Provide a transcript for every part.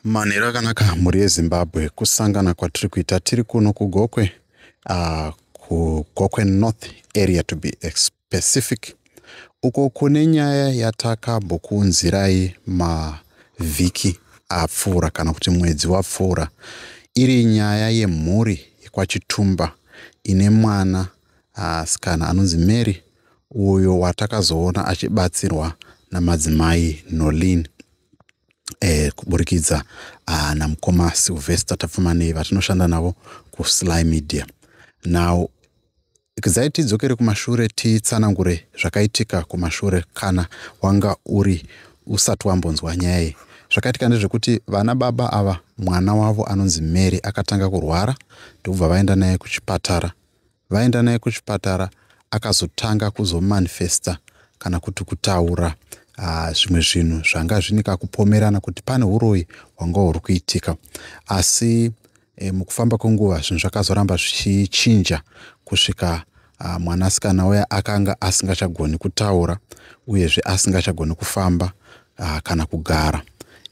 manhero akanaka mhuri yezimbabwe kusangana kwatiri kuita tiri kuno kugokwe uh, kugokwe north area to be specific uko kune nyaya yatakambokuunzirai mavhiki apfuura kana kuti mwedzi wapfuura iri nyaya yemhuri yekwachitumba ine mwana asikana anonzi mary uyo watakazoona achibatsirwa namadzimai nolin eh, kuburikidza uh, namukoma silvester tapfumanei vatinoshanda navo kusly media now kizai tidzokere kumashure titsanangure zvakaitika kumashure kana wanga uri usati wambonzwa nyaya iyi zvakaitika ndezvekuti vana baba ava mwana wavo anonzi mary akatanga kurwara ndokubva vaenda naye kuchipatara vaenda naye kuchipatara akazotanga kuzomanifesta kana kuti kutaura ah, zvimwe zvinhu zvanga zvine kakupomerana kuti pane uroyi hwanga huri kuitika asi e, mukufamba kwenguva zvinhu zvakazoramba zvichichinja kusvika ah, mwanasikana uya akanga asingachagoni kutaura uyezve asingachagoni kufamba ah, kana kugara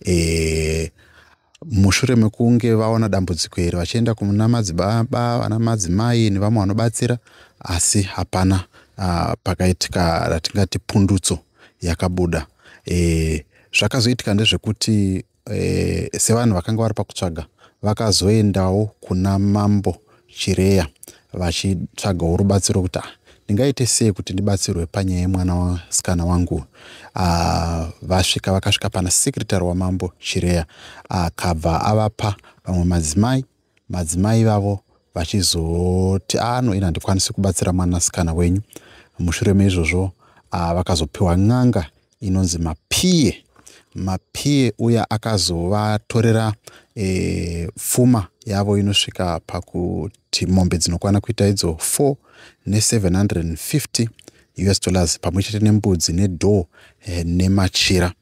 e, mushure mekunge vaona dambudziko iri vachienda kuna madzibaba vana madzimai nevamwe vanobatsira asi hapana uh, pakaitika ratingati pundutso yakabuda e, zvakazoitika ndezvekuti e, sevanhu vakanga vari pakutsvaga vakazoendawo kuna mambo Chireya vachitsvagawo rubatsiro kuti ah, ndingaite sei kuti ndibatsirwe panyaya yemwana wasikana wangu ah, vasvika vakasvika pana sekretary wamambo chireya akabva avapa vamwe madzimai madzimai vavo vachizoti ano ah, ini handikwanisi kubatsira mwanasikana wenyu mushure meizvozvo ah, vakazopiwa n'anga inonzi mapie mapie uya akazovatorera e, pfuma yavo inosvika pakuti mombe dzinokwana kuita idzo 4 ne750 us dollars pamwe chete nembudzi nedhoo e, eh, nemachira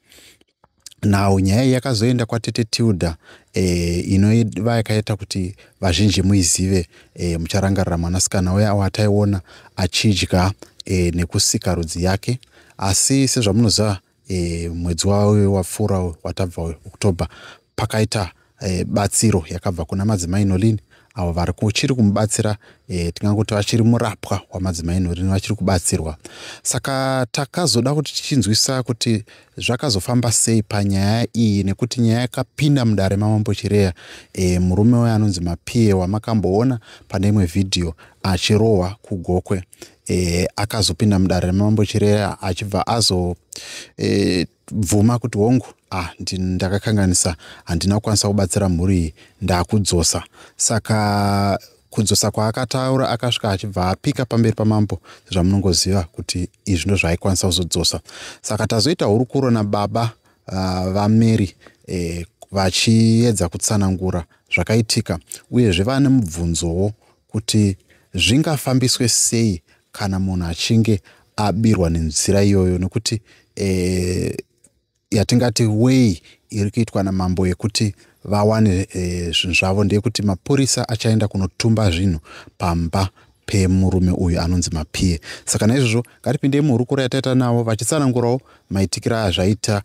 now nyaya iyi yakazoenda kwatete tilda e, eh, inoiva yakaita kuti vazhinji muizive e, mucharangarira mwanasikana uya awataiona achidya e, nekusika rudzi yake asi sezvamunoziva e, mwedzi wawe wapfuura watabva october pakaita e, batsiro yakabva kuna madzimai nolini avo vari kuchiri kumubatsira e, tinganguti vachiri murapwa wamadzimai nolini vachiri kubatsirwa saka takazoda kuti tichinzwisa kuti zvakazofamba sei panyaya iyi nekuti nyaya yakapinda mudare mamambo chireya e, murume uyo anonzi mapiye wamakamboona pane imwe vhidhiyo achirohwa kugokwe e, akazopinda mudare remambo chireya achibva azo e, bvuma kuti hongu ah, ndakakanganisa handina kukwanisa kubatsira mhuri iyi ndakudzosa saka kudzosa kwaakataura akasvika achibva apika pamberi pamambo zvamunongoziva kuti izvi ndo zvaikwanisa kuzodzosa saka tazoita hurukuro nababa uh, vamary eh, vachiedza kutsanangura zvakaitika uyezve vane mubvunzowo kuti zvingafambiswe sei kana munhu achinge abirwa nenzira iyoyo nekuti e, yatingati way iri kuitwa namambo yekuti vawane eh, zvinhu e, zvavo ndeyekuti mapurisa achaenda kunotumba zvinhu pamba pemurume uyu anonzi mapie saka naizvozvo ngatipindei muhurukuro yataita navo vachitsanangurawo maitikiro aya zvaita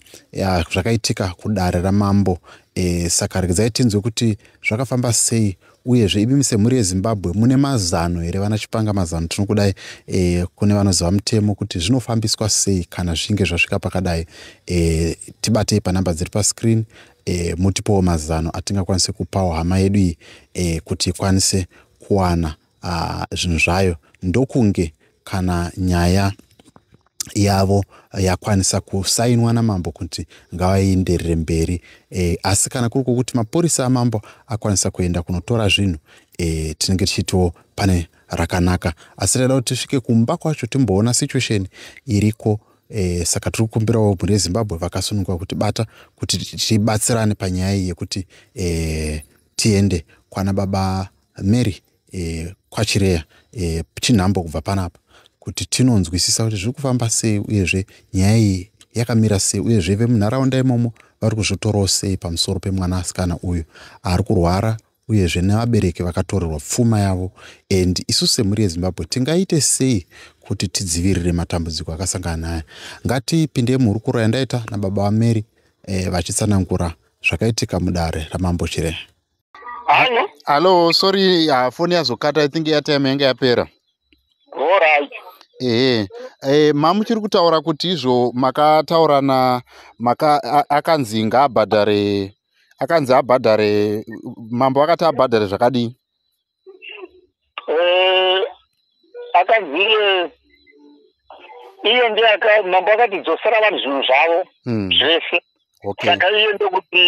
zvakaitika kudare ramambo e, saka regedzai tinzwe kuti zvakafamba sei uyezve imi semhuri yezimbabwe mune mazano here vana chipanga mazano tinokudai e, kune vanoziva mutemo kuti zvinofambiswa sei kana zvichinge zvasvika pakadai e, tibatei panhamba dziri pascreen e, mutipowo mazano atingakwanise kupawo hama yedu iyi e, kuti ikwanise kuwana zvinhu zvayo ndokunge kana nyaya yavo yakwanisa kusainwa namambo kuti ngavaenderere mberi e, asi kana kuri kwokuti mapurisa amambo akwanisa kuenda kunotora zvinhu e, tinenge tichitiwo pane rakanaka asi taida kuti tisvike kumba kwacho timboona situation iriko e, saka tiri kukumbirawo mhuri yezimbabwe vakasununguka kuti bata kuti tibatsirane panyaya iyi yekuti e, tiende kwana baba mary e, kwachireya e, chinhambo kubva panapa kuti tinonzwisisa kuti zviri kufamba sei uyezve nyaya iyi yakamira sei uyezve vemunharaunda imomo vari kuzvitorawo sei pamusoro pemwana asikana uyu ari kurwara uyezve nevabereki vakatorerwa pfuma yavo and isu semhuri yezimbabwe tingaite sei kuti tidzivirire matambudziko akasangana naye ngatipinde muhurukuro yandaita nababa vamary eh, vachitsanangura zvakaitika mudare ramambo chirehe Hello? Hello, sorry, uh, phone yazokata, I think airtime yanga yapera. All right. Ehe. Eh, mamu chiri kutaura kuti izvo makataurana maka akanzi ngaabhadhare akanzi abhadhare mambo akati abhadhare zvakadii? eh, akanzi iye iye ndiye mambo akati dzosera vanhu zvinhu zvavo hmm. zvese saka iye ndokuti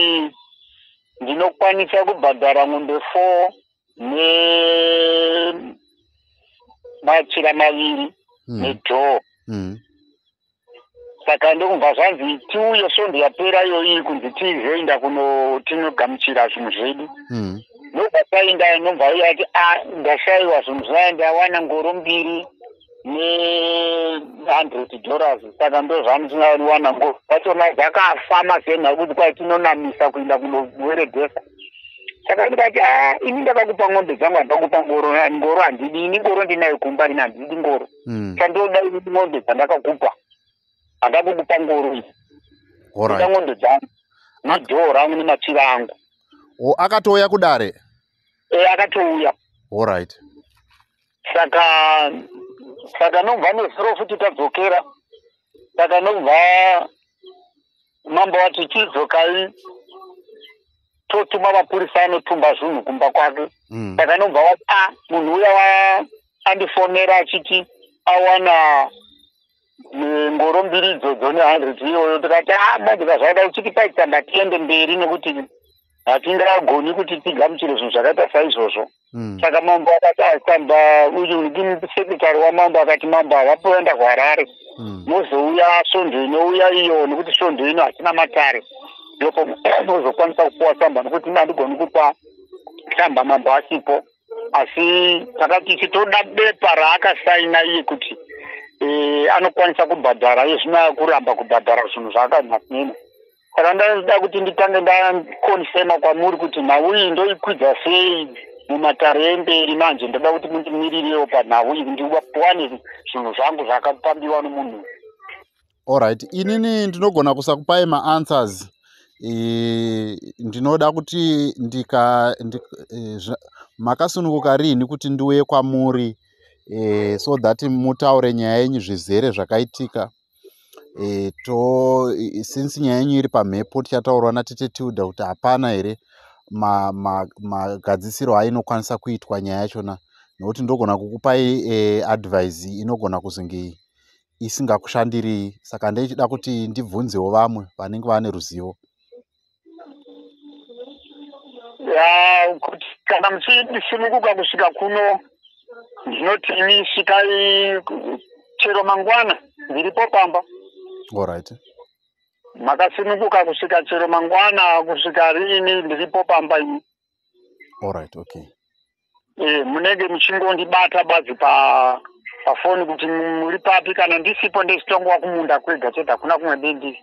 ndinokwanisa kubhadhara n'ombe four nemachira maviri hmm. nedhoo hmm. saka ndokubva zvanzi tiuye svondo yapera iyoyi kunzi tizoenda kuno tinogamuchira zvinhu zvedu mm. ndobva taenda nobva uye ati a ah, ndashaiwa zvinhu zvaya ndawana ngoro mbiri nehundred dollars saka ndo zvandisingawana ngoro vachona dzakafama senha kuti kwai tinonamisa kuenda kunoweredhesa saka ndikati a ah, ini ndakakupa ng'ombe dzangu handakupa ngoro ngoro handidi ini ngoro ndinayo kumba rina handidi ngoro mm. chandoda ini n'ondo dzandakakupa andakukupa ngoro iyi ida n'ondo dzangu nedhoo rangu nemachira angu o akatouya kudare e akatouya allright saka saka nobva nezuro futi tadzokera saka nobva mambo vati chidzokai totuma mapurisa anotumba zvinhu kumba kwake mm. saka nobva wati a ah, munhu uya andifonera achiti awana ngoro mbiri idzodzo nehundred iyoyo tikati a ah, manje kazvaida uchiti paitamba tiende mberi nekuti hatingagoni kuti tigamuchire zvinhu zvakaita saizvozvo hmm. saka mambo akati asamba sekretari wamambo akati mambo havapoenda kuharare hmm. mozouya svondo inouya iyo nekuti svondo ino hatina matare ndipo mozokwanisa kupuwa samba nekuti handigoni kupa samba mambo asipo asi takati isu toda bepa raakasaina iye kuti eh, anokwanisa kubhadhara iye zvino akuramba kubhadhara zvinhu zvaakanasinena saka ndaida kuti nditange ndakonfema kwamuri kuti nhau iyi ndoikwidza sei mumatare emberi manje ndoda kuti mundimiririrewo panhau iyi ndiwane zvinhu zvangu zvakapambiwa nomunhu allright inini ndinogona kusakupai maanswers e, ndinoda kuti ndika ndi, e, zva, makasununguka riini kuti ndiuye kwamuri e, so that mutaure nyaya yenyu zvizere zvakaitika e, to since nyaya yenyu iri pamhepo tichataurwa natete tilda kuti hapana here magadzisiro ma, ma ainokwanisa kuitwa nyaya yachona nokuti ndogona kukupai e, advise inogona kuzonge isingakushandirii saka ndeichida kuti ndibvunzewo vamwe vanenge vane ruzivo Ya, kuti kana muchidisimukuka kusvika kuno ndinoti imi svikai ku- chero mangwana ndiripo pamba Alright. makasimukuka kusvika chero mangwana kusvika riini ndiripo pamba imi Alright, okay. Eh, munenge muchingondibata badzi pa pafoni kuti mu- muri papi kana ndisipo ndechitongwa kumunda kwega chete hakuna kumwe bendiri